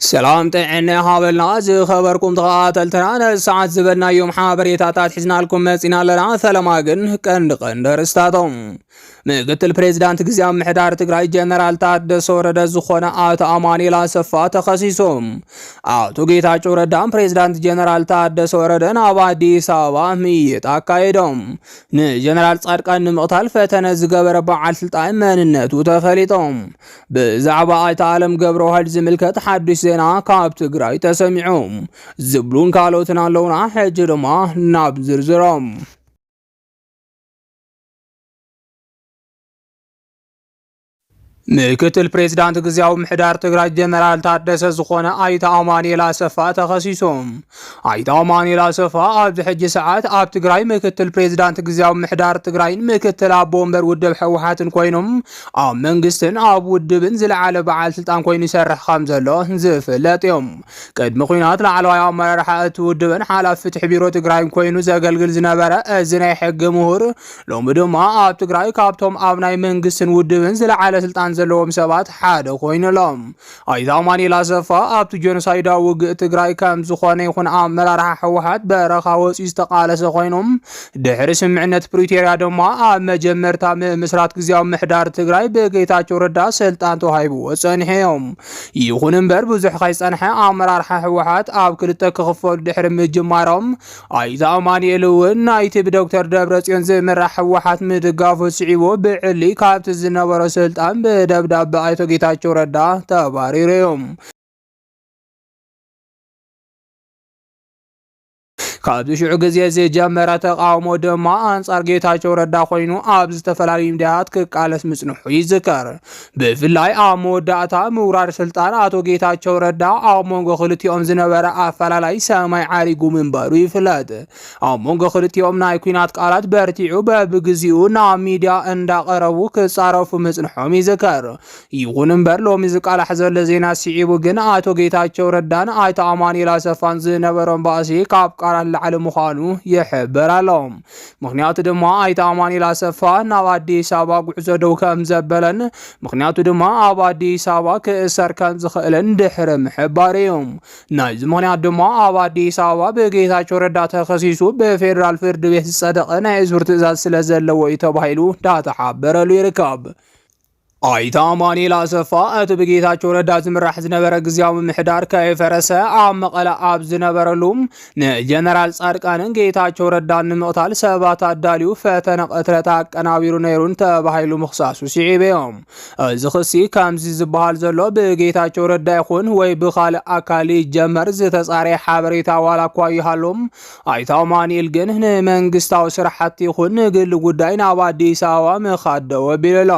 ሰላም ጥዕና ይሃበልና ዝኸበርኩም ተኸታተልትና ነዚ ሰዓት ዝበልናዮም ሓበሬታታት ሒዝናልኩም መፂና ኣለና። ፈለማ ግን ቀንዲ ቀንዲ ኣርእስታቶም ምክትል ፕሬዚዳንት ግዝያዊ ምሕዳር ትግራይ ጀነራል ታደሰ ወረደ ዝኾነ ኣቶ ኣማኑኤል ኣሰፋ ተኸሲሱ። ኣቶ ጌታቸው ረዳን ፕሬዚዳንት ጀነራል ታደሰ ወረደን ኣብ ኣዲስ ኣበባ ምይይጥ ኣካይዶም ንጀነራል ጻድቃን ንምቕታል ፈተነ ዝገበረ በዓል ስልጣን መንነቱ ተፈሊጦም ብዛዕባ ኣይተ ኣለም ገብረዋህድ ዝምልከት ሓዱሽ ዜና ካብ ትግራይ ተሰሚዑ ዝብሉን ካልኦትን ኣለውና። ሕጂ ድማ ናብ ዝርዝሮም ምክትል ፕሬዚዳንት ግዜያዊ ምሕዳር ትግራይ ጀነራል ታደሰ ዝኾነ ኣይተ ኣማኒኤል ኣሰፋ ተኸሲሶም ኣይተ ኣማኑኤል ኣሰፋ ኣብዚ ሕጂ ሰዓት ኣብ ትግራይ ምክትል ፕሬዚዳንት ግዜያዊ ምሕዳር ትግራይን ምክትል ኣቦ ወንበር ውድብ ህወሓትን ኮይኖም ኣብ መንግስትን ኣብ ውድብን ዝለዓለ በዓል ስልጣን ኮይኑ ይሰርሕ ከም ዘሎ ዝፍለጥ እዮም። ቅድሚ ኩናት ላዕለዋይ ኣመራርሓ እቲ ውድብን ሓላፊ ፍትሒ ቢሮ ትግራይን ኮይኑ ዘገልግል ዝነበረ እዚ ናይ ሕጊ ምሁር ሎሚ ድማ ኣብ ትግራይ ካብቶም ኣብ ናይ መንግስትን ውድብን ዝለዓለ ስልጣን ዘለዎም ሰባት ሓደ ኮይኑሎም ኣይተ ኣማኒኤል ኣሰፋ ኣብቲ ጆኖሳይዳዊ ውግእ ትግራይ ከም ዝኾነ ይኹን ኣመራርሓ ህወሓት በረኻ ወፂኡ ዝተቃለሰ ኮይኑ ድሕሪ ስምዕነት ፕሪቶሪያ ድማ ኣብ መጀመርታ ምምስራት ግዜያዊ ምሕዳር ትግራይ ብጌታቸው ረዳ ስልጣን ተዋሂብዎ ፀኒሐ እዮም። ይኹን እምበር ብዙሕ ከይፀንሐ ኣመራርሓ ህወሓት ኣብ ክልተ ክኽፈሉ ድሕሪ ምጅማሮም ኣይተ ኣማኒኤል እውን ናይቲ ብዶክተር ደብረፅዮን ዝምራሕ ህወሓት ምድጋፉ ስዒቡ ብዕሊ ካብቲ ዝነበሮ ስልጣን ብደብዳበ ኣይቶ ጌታቸው ረዳ ተባሪሩ እዩ። ካብዚ ሽዑ ግዜ ዝጀመረ ተቃውሞ ድማ ኣንጻር ጌታቸው ረዳ ኮይኑ ኣብ ዝተፈላለዩ ሚዲያታት ክቃለስ ምጽንሑ ይዝከር። ብፍላይ ኣብ መወዳእታ ምውራድ ስልጣን ኣቶ ጌታቸው ረዳ ኣብ መንጎ ክልቲኦም ዝነበረ ኣፈላላይ ሰማይ ዓሪጉ ምንባሩ ይፍለጥ። ኣብ መንጎ ክልቲኦም ናይ ኩናት ቃላት በርቲዑ በብግዚኡ ናብ ሚድያ እንዳቐረቡ ክጻረፉ ምጽንሖም ይዝከር። ይኹን እምበር ሎሚ ዝቃላሕ ዘሎ ዜና ስዒቡ ግን ኣቶ ጌታቸው ረዳን ኣይተ ኣማኑኤል ኣሰፋን ዝነበሮም ባእሲ ካብ ቃላት ላዕሊ ምዃኑ ይሕበር ኣሎ። ምክንያቱ ድማ ኣይተ ኣማኒኤል ኣሰፋ ናብ ኣዲስ ኣበባ ጉዕዞ ደው ከም ዘበለን ምክንያቱ ድማ ኣብ ኣዲስ ኣበባ ክእሰር ከም ዝኽእልን ድሕሪ ምሕባር እዩ። ናይዚ ምክንያት ድማ ኣብ ኣዲስ ኣበባ ብጌታቸው ረዳ ተኸሲሱ ብፌዴራል ፍርድ ቤት ዝጸደቐ ናይ እሱር ትእዛዝ ስለ ዘለዎ እዩ ተባሂሉ ዳተሓበረሉ ይርከብ። ኣይተ ኣማኑኤል ኣሰፋ እቲ ብጌታቸው ረዳ ዝምራሕ ዝነበረ ግዜያዊ ምምሕዳር ከይፈረሰ ኣብ መቐለ ኣብ ዝነበረሉ ንጀነራል ጻድቃንን ጌታቸው ረዳን ንምቕታል ሰባት ኣዳልዩ ፈተነ ቅትለት ኣቀናቢሩ ነይሩን ተባሂሉ ምኽሳሱ ስዒቡ እዮም። እዚ ክሲ ከምዚ ዝበሃል ዘሎ ብጌታቸው ረዳ ይኹን ወይ ብኻልእ ኣካል ይጀመር ዝተጻረየ ሓበሬታ ዋላ እኳ ይሃሎም ኣይተ ኣማኒኤል ግን ንመንግስታዊ ስራሕቲ ይኹን ንግል ጉዳይ ናብ ኣዲስ ኣበባ ምኻድ ደው ኣቢሉ ኣሎ።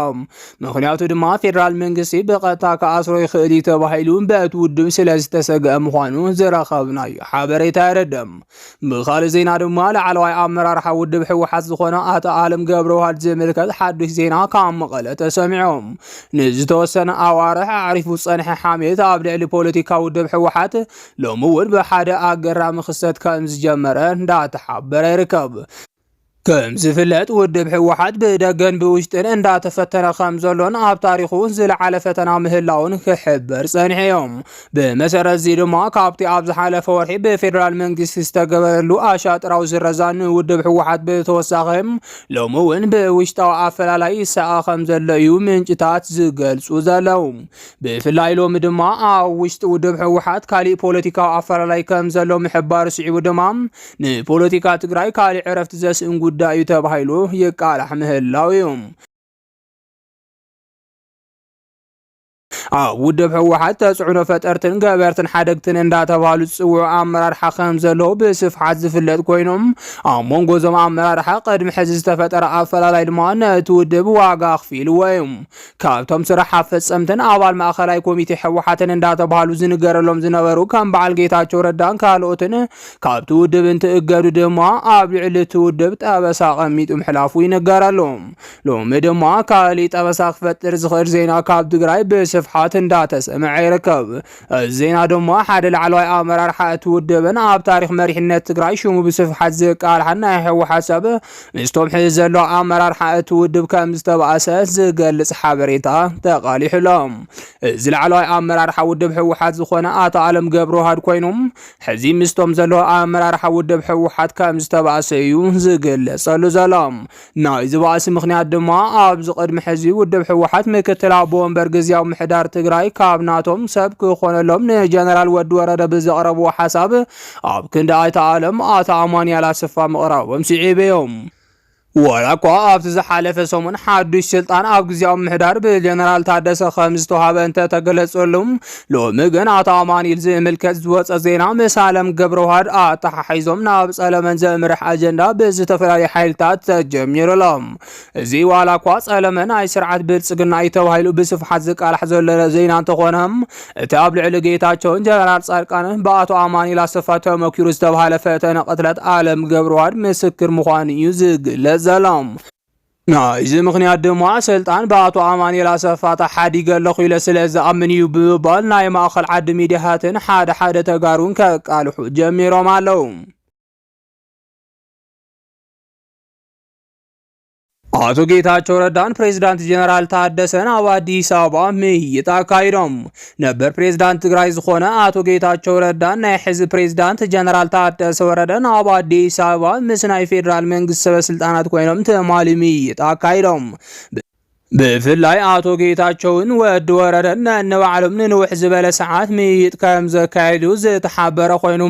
ምክንያቱ ድማ ፌዴራል መንግስቲ ብቐጥታ ክኣስሮ ይኽእል እዩ ተባሂሉ በቲ ውድብ ስለ ዝተሰግአ ምዃኑ ዝረኸብናዩ ሓበሬታ የረድእ። ብኻልእ ዜና ድማ ላዕለዋይ ኣመራርሓ ውድብ ህወሓት ዝኾነ ኣቶ ኣለም ገብረዋህድ ዝምልከት ሓዱሽ ዜና ካብ መቐለ ተሰሚዖም ንዝተወሰነ ኣዋርሕ ኣዕሪፉ ዝፀንሐ ሓሜት ኣብ ልዕሊ ፖለቲካ ውድብ ህወሓት ሎሚ እውን ብሓደ ኣገራሚ ክስተት ከም ዝጀመረ እንዳተሓበረ ይርከብ። ከም ዝፍለጥ ውድብ ህወሓት ብደገን ብውሽጥን እንዳተፈተነ ከም ዘሎን ኣብ ታሪኹ ዝለዓለ ፈተና ምህላውን ክሕበር ጸኒሐ እዮም። ብመሰረት እዚ ድማ ካብቲ ኣብ ዝሓለፈ ወርሒ ብፌዴራል መንግስቲ ዝተገበረሉ ኣሻጥራዊ ዝረዛ ንውድብ ህወሓት ብተወሳኺ ሎሚ እውን ብውሽጣዊ ኣፈላላይ ይሰኣ ከም ዘሎ እዩ ምንጭታት ዝገልጹ ዘለዉ። ብፍላይ ሎሚ ድማ ኣብ ውሽጢ ውድብ ህወሓት ካሊእ ፖለቲካዊ ኣፈላላይ ከም ዘሎ ምሕባሩ ስዒቡ ድማ ንፖለቲካ ትግራይ ካሊእ ዕረፍቲ ዘስእን ጉዳይ እዩ ተባሂሉ ይቃላሕ ምህላው እዩ። ኣብ ውድብ ህወሓት ተፅዕኖ ፈጠርትን ገበርትን ሓደግትን እንዳተባሃሉ ዝፅውዑ ኣመራርሓ ከም ዘለዉ ብስፍሓት ዝፍለጥ ኮይኖም ኣብ መንጎ እዞም ኣመራርሓ ቅድሚ ሕዚ ዝተፈጠረ ኣፈላላይ ድማ ነቲ ውድብ ዋጋ ኣኽፊልዎ እዩ። ካብቶም ስራሕ ኣፈፀምትን ኣባል ማእኸላይ ኮሚቴ ህወሓትን እንዳተብሃሉ ዝንገረሎም ዝነበሩ ከም በዓል ጌታቸው ረዳን ካልኦትን ካብቲ ውድብ እንትእገዱ ድማ ኣብ ልዕሊ እቲ ውድብ ጠበሳ ቀሚጡ ምሕላፉ ይንገረሉ። ሎሚ ድማ ካሊእ ጠበሳ ክፈጥር ዝኽእል ዜና ካብ ትግራይ ብስፍሓት እንዳተሰምዐ ይርከብ። እዚ ዜና ድማ ሓደ ላዕለዋይ ኣመራርሓ እቲ ውድብን ኣብ ታሪኽ መሪሕነት ትግራይ ሽሙ ብስፍሓት ዝቃልሓን ናይ ህወሓት ሰብ ምስቶም ሕዚ ዘሎ ኣመራርሓ እቲ ውድብ ከም ዝተባእሰ ዝገልጽ ሓበሬታ ተቓሊሑሎም። እዚ ላዕለዋይ ኣመራርሓ ውድብ ህወሓት ዝኾነ ኣቶ ኣለም ገብረዋህድ ኮይኑ ሕዚ ምስቶም ዘሎ ኣመራርሓ ውድብ ህወሓት ከም ዝተባእሰ እዩ ዝግለጸሉ ዘሎ። ናይዚ ባእሲ ምኽንያት ድማ ኣብዚ ቅድሚ ሕዚ ውድብ ህወሓት ምክትል ኣቦ ወንበር ግዝያዊ ምሕዳር ትግራይ ካብ ናቶም ሰብ ክኾነሎም ንጀነራል ወዲ ወረደ ብዘቕረብዎ ሓሳብ ኣብ ክንዲ ኣይተ ኣለም ኣቶ ኣማንያል ኣሰፋ ምቕራቦም ስዒቡ እዮም። ዋላ እኳ ኣብቲ ዝሓለፈ ሰሙን ሓዱሽ ስልጣን ኣብ ግዝያዊ ምሕዳር ብጀነራል ታደሰ ከም ዝተዋሃበ እንተተገለጸሉም ሎሚ ግን ኣቶ ኣማኒል ዝምልከት ዝወፀ ዜና ምስ ኣለም ገብረዋህድ ኣተሓሒዞም ናብ ጸለመን ዘምርሕ ኣጀንዳ ብዝተፈላለዩ ሓይልታት ተጀሚሩሎም እዚ ዋላ እኳ ጸለመ ናይ ስርዓት ብልጽግና እዩ ተባሂሉ ብስፍሓት ዝቃላሕ ዘሎ ዜና እንተኾነ እቲ ኣብ ልዕሊ ጌታቸውን ጀነራል ጻድቃንን ብኣቶ ኣማኒል ኣሰፋ ተመኪሩ ዝተባሃለ ፈተነ ቅትለት ኣለም ገብረዋህድ ምስክር ምዃኑ እዩ ዝግለጽ ዘሎም ናይዚ ምኽንያት ድማ ስልጣን ብኣቶ ኣማኒኤል ኣሰፋ ተሓዲገ ኣለኹ ኢለ ስለ ዝኣምን እዩ ብምባል ናይ ማእኸል ዓዲ ሚድያታትን ሓደ ሓደ ተጋሩን ከቃልሑ ጀሚሮም ኣለዉ። ኣቶ ጌታቸው ረዳን ፕሬዚዳንት ጀነራል ታደሰን ኣብ ኣዲስ ኣበባ ምይይጥ ኣካይዶም። ነበር ፕሬዝዳንት ትግራይ ዝኾነ ኣቶ ጌታቸው ረዳን ናይ ሕዚ ፕሬዝዳንት ጀነራል ታደሰ ወረደን ኣብ ኣዲስ ኣበባ ምስ ናይ ፌዴራል መንግስቲ ሰበስልጣናት ኮይኖም ትማሊ ምይይጥ ኣካይዶም። ብፍላይ ኣቶ ጌታቸውን ወዲ ወረደን ነንባዕሎም ንንውሕ ዝበለ ሰዓት ምይይጥ ከም ዘካየዱ ዝተሓበረ ኮይኑ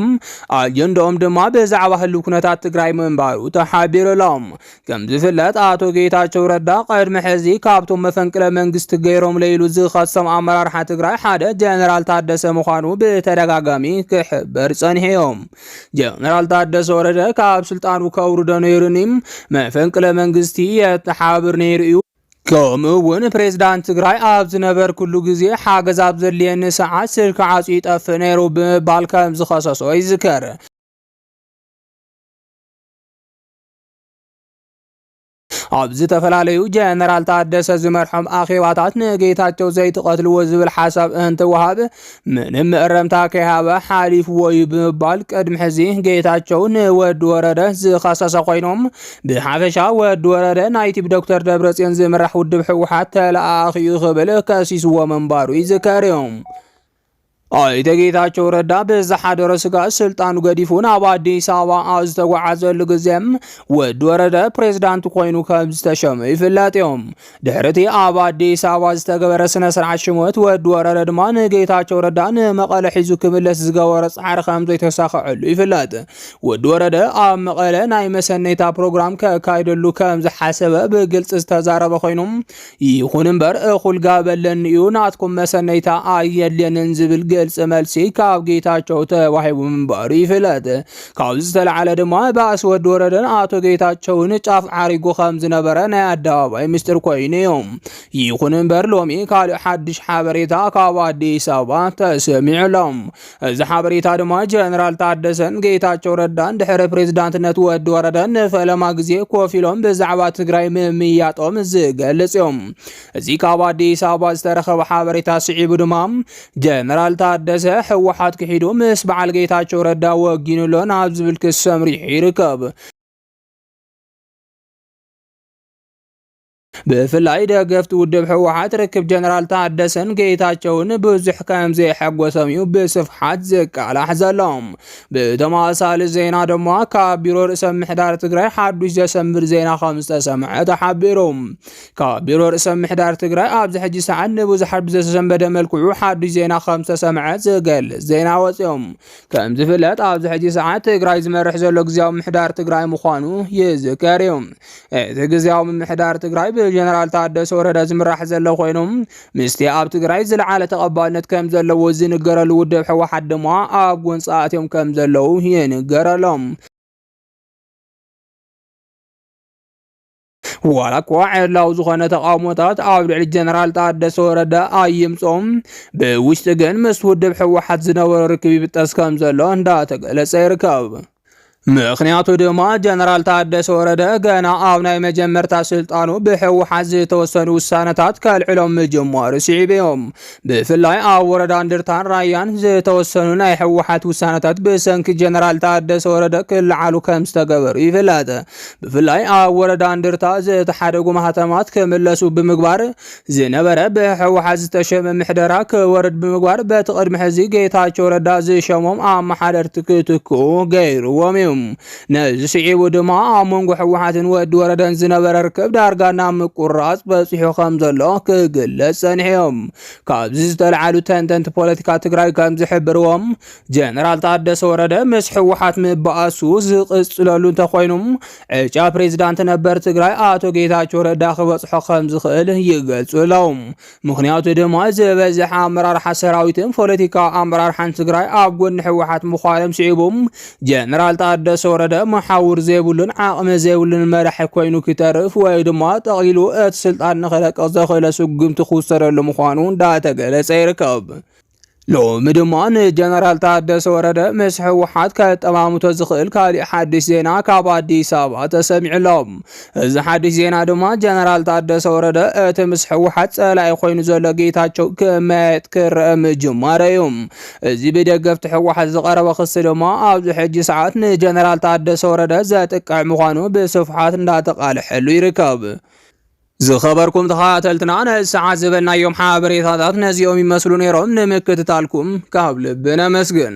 ኣጀንዳኦም ድማ ብዛዕባ ህልው ኩነታት ትግራይ ምንባሩ ተሓቢሩሎም ከም ዝፍለጥ ኣቶ ጌታቸው ረዳ ቅድሚ ሕዚ ካብቶም መፈንቅለ መንግስቲ ገይሮም ለይሉ ዝኸሶም ኣመራርሓ ትግራይ ሓደ ጀነራል ታደሰ ምዃኑ ብተደጋጋሚ ክሕበር ጸኒሕዮም። ጀነራል ታደሰ ወረደ ካብ ስልጣኑ ከውርዶ ነይሩኒ መፈንቅለ መንግስቲ የተሓብር ነይሩ እዩ። ከምኡ እውን ፕሬዝዳንት ትግራይ ኣብ ዝነበርኩሉ ግዜ ሓገዝ ኣብ ዘድልየኒ ሰዓት ስልኪ ዓፁ ይጠፍእ ነይሩ ብምባል ከም ዝኸሰሶ ይዝከር። ኣብ ዝተፈላለዩ ጀነራል ታደሰ ዝመርሖም ኣኼባታት ንጌታቸው ዘይትቐትልዎ ዝብል ሓሳብ እንትወሃብ ምንም መእረምታ ከይሃበ ሓሊፍዎ እዩ ብምባል ቅድሚ ሕዚ ጌታቸው ንወዲ ወረደ ዝኸሰሰ ኮይኖም ብሓፈሻ ወዲ ወረደ ናይ ቲብ ዶክተር ደብረፅዮን ዝምራሕ ውድብ ህወሓት ተለኣኣኺ እዩ ክብል ከሲስዎ ምንባሩ ይዝከር እዮም። ኣይተ ጌታቸው ረዳ ብዝሓደረ ስጋት ስልጣኑ ገዲፉ ናብ ኣዲስ ኣበባ ኣብ ዝተጓዓዘሉ ግዜ ወዲ ወረደ ፕሬዝዳንት ኮይኑ ከም ዝተሸመ ይፍለጥ እዮም። ድሕሪ እቲ ኣብ ኣዲስ ኣበባ ዝተገበረ ስነ ስርዓት ሽመት ወዲ ወረደ ድማ ንጌታቸው ረዳ ንመቐለ ሒዙ ክምለስ ዝገበሮ ፃዕሪ ከም ዘይተሳኸዐሉ ይፍለጥ። ወዲ ወረደ ኣብ መቐለ ናይ መሰነይታ ፕሮግራም ከካይደሉ ከም ዝሓሰበ ብግልፂ ዝተዛረበ ኮይኑ ይኹን እምበር እኹል ጋበለኒ እዩ ናትኩም መሰነይታ ኣየድልየንን ዝብል ግልፂ መልሲ ካብ ጌታቸው ተዋሂቡ ምንባሩ ይፍለጥ። ካብዚ ዝተለዓለ ድማ ባእሲ ወዲ ወረደን ኣቶ ጌታቸውን ጫፍ ዓሪጉ ከም ዝነበረ ናይ ኣደባባይ ምስጢር ኮይኑ እዩ። ይኹን እምበር ሎሚ ካልእ ሓድሽ ሓበሬታ ካብ ኣዲስ ኣበባ ተሰሚዑ ኣሎ። እዚ ሓበሬታ ድማ ጀነራል ታደሰን ጌታቸው ረዳን ድሕሪ ፕሬዝዳንትነት ወዲ ወረደን ንፈለማ ግዜ ኮፍ ኢሎም ብዛዕባ ትግራይ ምምያጦም ዝገልጽ እዮም። እዚ ካብ ኣዲስ ኣበባ ዝተረኸበ ሓበሬታ ስዒቡ ድማ ጀነራል ታደሰ ህወሓት ክሒዱ ምስ በዓል ጌታቸው ረዳ ወጊኑሎ ናብ ዝብል ክስ ሰምሪሑ ይርከብ። ብፍላይ ደገፍቲ ውድብ ህወሓት ርክብ ጀነራል ታደሰን ጌታቸውን ብዙሕ ከም ዘየሐጎሶም እዩ ብስፍሓት ዝቃላሕ ዘሎ። ብተመሳሳሊ ዜና ድማ ካብ ቢሮ ርእሰ ምሕዳር ትግራይ ሓዱሽ ዘሰምብር ዜና ከም ዝተሰምዐ ተሓቢሩ። ካብ ቢሮ ርእሰ ምሕዳር ትግራይ ኣብዚ ሕጂ ሰዓት ንብዙሓት ብዘተሰንበደ መልክዑ ሓዱሽ ዜና ከም ዝተሰምዐ ዝገልጽ ዜና ወፂኦም። ከም ዝፍለጥ ኣብዚ ሕጂ ሰዓት ትግራይ ዝመርሕ ዘሎ ግዜያዊ ምሕዳር ትግራይ ምዃኑ ይዝከር እዩ። እቲ ግዜያዊ ምምሕዳር ትግራይ ብጀነራል ታደሰ ወረደ ዝምራሕ ዘሎ ኮይኑ ምስቲ ኣብ ትግራይ ዝለዓለ ተቐባልነት ከም ዘለዎ ዝንገረሉ ውድብ ሕወሓት ድማ ኣብ ጎንፂ ኣትዮም ከም ዘለዉ ይንገረሎም። ዋላ እኳ ዕላው ዝኾነ ተቃውሞታት ኣብ ልዕሊ ጀነራል ታደሰ ወረደ ኣይምጾም፣ ብውሽጢ ግን ምስ ውድብ ህወሓት ዝነበሮ ርክብ ይብጠስ ከም ዘሎ እንዳተገለጸ ይርከብ። ምክንያቱ ድማ ጀነራል ታደሰ ወረደ ገና ኣብ ናይ መጀመርታ ስልጣኑ ብህወሓት ዝተወሰኑ ውሳነታት ከልዕሎም ምጅማሩ ስዒቡ እዮም ብፍላይ ኣብ ወረዳ እንድርታን ራያን ዝተወሰኑ ናይ ህወሓት ውሳነታት ብሰንኪ ጀነራል ታደሰ ወረደ ክለዓሉ ከም ዝተገበሩ ይፍለጥ። ብፍላይ ኣብ ወረዳ እንድርታ ዝተሓደጉ ማህተማት ክምለሱ ብምግባር ዝነበረ ብህወሓት ዝተሸመ ምሕደራ ክወርድ ብምግባር በቲ ቅድሚ ሕዚ ጌታቸው ረዳ ዝሸሞም ኣመሓደርቲ ክትክኡ ገይርዎም እዩ። ነዚ ስዒቡ ድማ ኣብ መንጎ ህወሓትን ወዲ ወረደን ዝነበረ ርክብ ዳርጋ ናብ ምቁራፅ በፂሑ ከም ዘሎ ክግለፅ ፀኒሑ እዩ። ካብዚ ዝተልዓሉ ተንተንቲ ፖለቲካ ትግራይ ከም ዝሕብርዎም ጀነራል ታደሰ ወረደ ምስ ህወሓት ምባኣሱ ዝቕፅለሉ እንተኾይኑ ዕጫ ፕሬዚዳንት ነበር ትግራይ ኣቶ ጌታቸው ረዳ ክበፅሖ ከም ዝኽእል ይገልፁ ኣለዉ። ምኽንያቱ ድማ ዝበዝሐ ኣመራርሓ ሰራዊትን ፖለቲካዊ ኣመራርሓን ትግራይ ኣብ ጎኒ ህወሓት ምዃኖም ስዒቡ ጀነራል ታደሰ ወረደ መሓውር ዘይብሉን ዓቕሚ ዘይብሉን መራሒ ኮይኑ ክተርፍ ወይ ድማ ጠቕሊሉ እቲ ስልጣን ንክለቅቕ ዘኽእለ ስጉምቲ ክውሰደሉ ምዃኑ እንዳተገለጸ ይርከብ። ሎሚ ድማ ንጀነራል ታደሰ ወረደ ምስ ህወሓት ከጠማምቶ ዝኽእል ካሊእ ሓድሽ ዜና ካብ ኣዲስ ኣበባ ተሰሚዑ ኣሎ። እዚ ሓድሽ ዜና ድማ ጀነራል ታደሰ ወረደ እቲ ምስ ህወሓት ጸላኢ ኮይኑ ዘሎ ጌታቸው ክመያየጥ ክረአ ምጅማረ እዩ። እዚ ብደገፍቲ ህወሓት ዝቐረበ ክሲ ድማ ኣብዚ ሕጂ ሰዓት ንጀነራል ታደሰ ወረደ ዘጥቅዕ ምዃኑ ብስፍሓት እንዳተቃልሐሉ ይርከብ። ዝኸበርኩም ተኸታተልትና ነዚ ሰዓት ዝበልናዮም ሓበሬታታት ነዚኦም ይመስሉ ነይሮም። ንምክትታልኩም ካብ ልቢ ነመስግን።